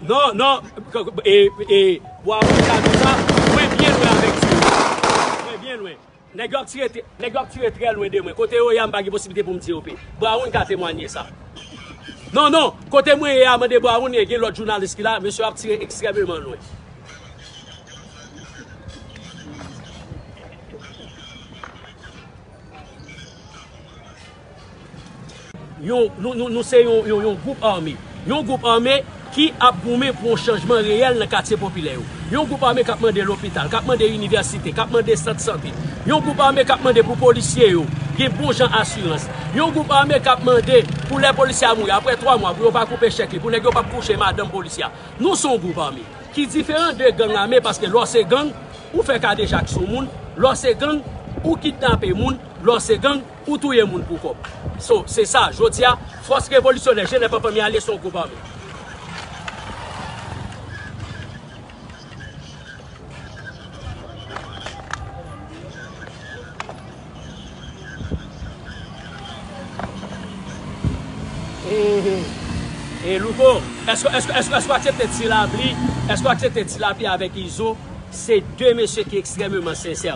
Non, non, e, e, pou a wè kado sa, mwen byen lwen avèk ti yo. Mwen byen lwen. Nèg yo ap tire, nèg yo ap tire trè lwen de mwen. Kote yo ye a m pa gen posiblite pou m di yo pe. Brown ka temwanye sa. Non, non, kote mwen ye a mande Brown e gen lòt jounalis ki la, mesye yo ap tire ekstrèmeman lwen. Nou se yon gwoup ame. Yon gwoup ame ki ap goumen pou yon chanjman reyèl nan katye popilè yo. Yon gwoup ame k ap mande lopital, k ap mande inivèsite, k ap mande sant sante. Yon gwoup ame k ap mande pou polisye yo gen bon jan asirans. Yon gwoup ame k ap mande pou lè polisye a mouri apre 3 mwa pou yo pa koupe chèk li, pou nèg yo pa p kouche madanm polisye a. Nou se yon gwoup ame ki diferan de gang ame paske lè w se gang, ou fè kadejak sou moun, lè w se gang, ou kidnape moun, lè w se gang, Ou touye moun pou kòb. So, se sa, jodi a, Fòs Revolisyonè Jenè Panpan Myale se yon gwoup ame. E Louko, èske ou aksepte Ti Lapli, èske ou aksepte Ti Lapli avèk Izo, se de mesye ki ekstrèmeman sensè.